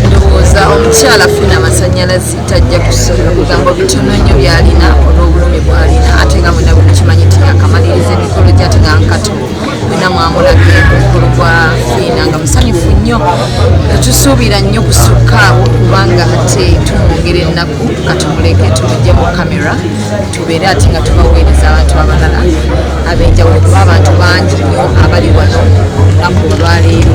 ndowooza omukyala funa amasanyalazi tajja kusoma bigambo bitono nnyo byalina olw'obulumi bwalina ate nga mwena bwemukimanyi nti yakamaliriza emikolo gyate nga nkato mwena mwamulabye omukolo gwa fiina nga musanyufu nnyo tetusuubira nnyo kusukkaawo kubanga ate tumwongera ennaku katumuleke tumujje mu kamera tubeere ate nga tubaweereza abantu abalala ab'enjawulo kuba abantu bangi nnyo abali wano olunaku olwaleero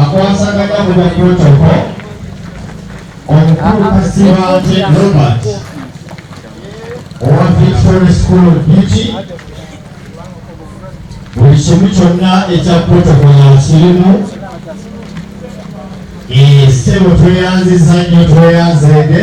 akwasaganya mu bya protocol omukulu kasibante robert owa victory school of beauty buli kimu kyonna ekya protocol yakirimu ssebo tweyanziza nnyo tweyanzeede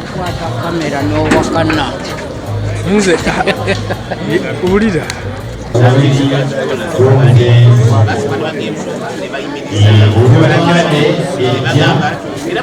kukwata kamera n'owakana nze wulira era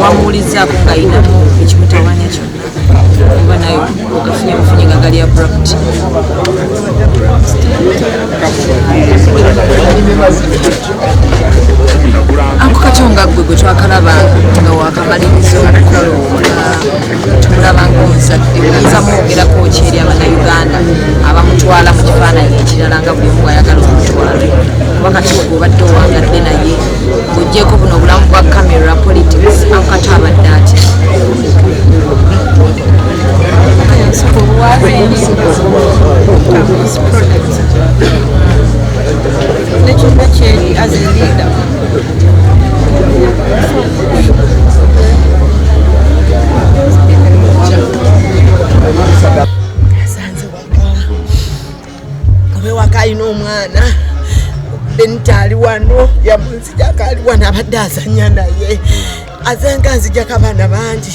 wamuwulizzaako ngayinamu ekimutawanya kyonna oba naye ogafunye bufunye nga gali abrupt ako katyo nga ggwe gwe twakalaba nga wakamaliriza okukola tumulaba ngaomuzadde oyinza mwogerako ki eri abanauganda abamutwala mu kifaananyi ekirala nga buli omu bwayagala omutwala kuba kati ogwo obadde owangadde naye ng'ogyeko buno obulamu bwa camera politics ankati abadde ati alina omwana benita ali wano yamunzijako ali wano abadde azanya naye azenga nzijako abaana bangi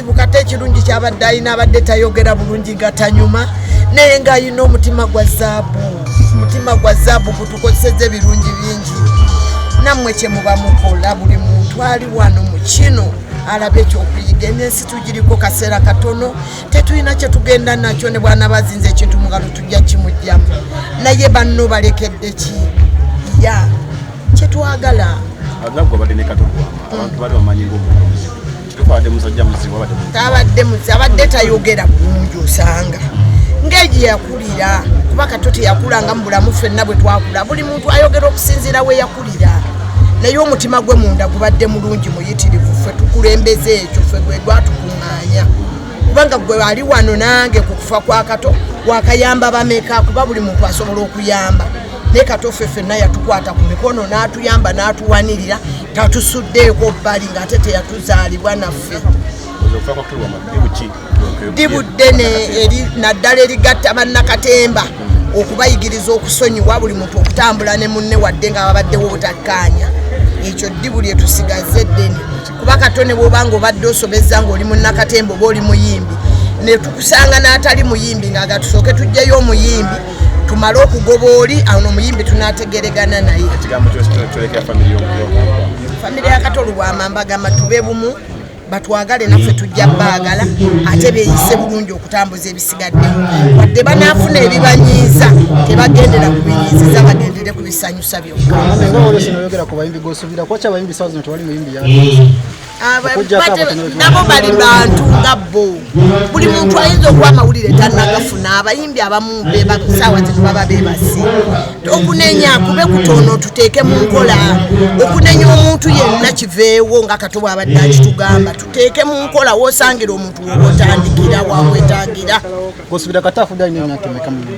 kate ekirungi kyabadde alina abadde tayogera bulungi nga tanyuma naye nga alina omutima gwa zaabu omutima gwa zaabu gutukozeseza ebirungi bingi nammwe kyemuba mukola buli muntu ali wano mu kino alabe ekyokuyiga eno ensi tugiriko kaseera katono tetulina kyetugenda nakyo ne bwana bazinza ekintu mungalo tujja kimugjamu naye banno balekedde ki ya kyetwagala tabadde muzi abadde tayogera bulungi osanga ng'egyo yakulira kuba kato teyakulanga mu bulamu fenna bwe twakula buli muntu ayogera okusinziira we yakulira naye omutima gwe munda gubadde mulungi muyitirivu ffe tukulembeza ekyo ffe gwe gwatukuŋŋaanya kubanga gwe ali wano nange ku kufa kwa kato wakayamba bameka kuba buli muntu asobola okuyamba naye katoffe fenna yatukwata ku mikono n'atuyamba n'atuwanirira tatusuddeeko bbali ng'ate teyatuzaalibwa naffe ddibu ddene naddala erigatta bannakatemba okubayigiriza okusonyiwa buli muntu okutambula ne munne wadde nga babaddewo obutakkaanya ekyo ddibu lyetusigaze ddene kuba katone bwoba nga obadde osobezza ngaoli munakatemba oba oli muyimbi netukusanga n'atali muyimbi nga gatusooke tujjeyo omuyimbi tumale okugoba oli awo nomuyimbi tunategeregana naye famire yakatolu bwamamba gamba tube bumu batwagale naffe tujja baagala ate beyise bulungi okutambuza ebisigaddewo wadde banaafuna ebibanyiiza tebagendera ku binyiiziza bagendere ku bisanyu nabo bali bantu nga bo buli muntu ayinza okuba amawulire tanagafuna abayimbi abamu bebakusaawa zino baba bebasi okunenya kube kutono tuteeke mu nkola okunenya omuntu yenna kiveewo nga kato bwabadde akitugamba tuteeke mu nkola wosangira omuntu woba otandikira wamwetagira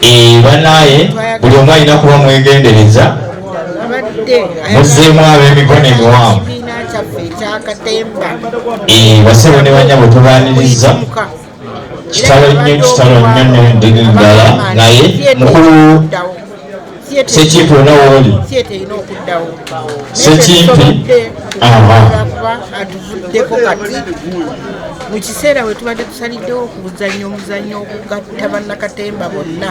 Eh, banaye buli omu alina kuba mwegendereza muzeemu ab'emikono emiwanvu eh, basebo ne banyabo tubaniriza kitalo nnyo kitalo nnyo nyo ndiri ddala naye mukulu sekimpi wona wooli sekimpi atuvuddeko kati mu kiseera we tubadde tusaliddewo okuzannya omuzannyo okugatta bannakatemba bonna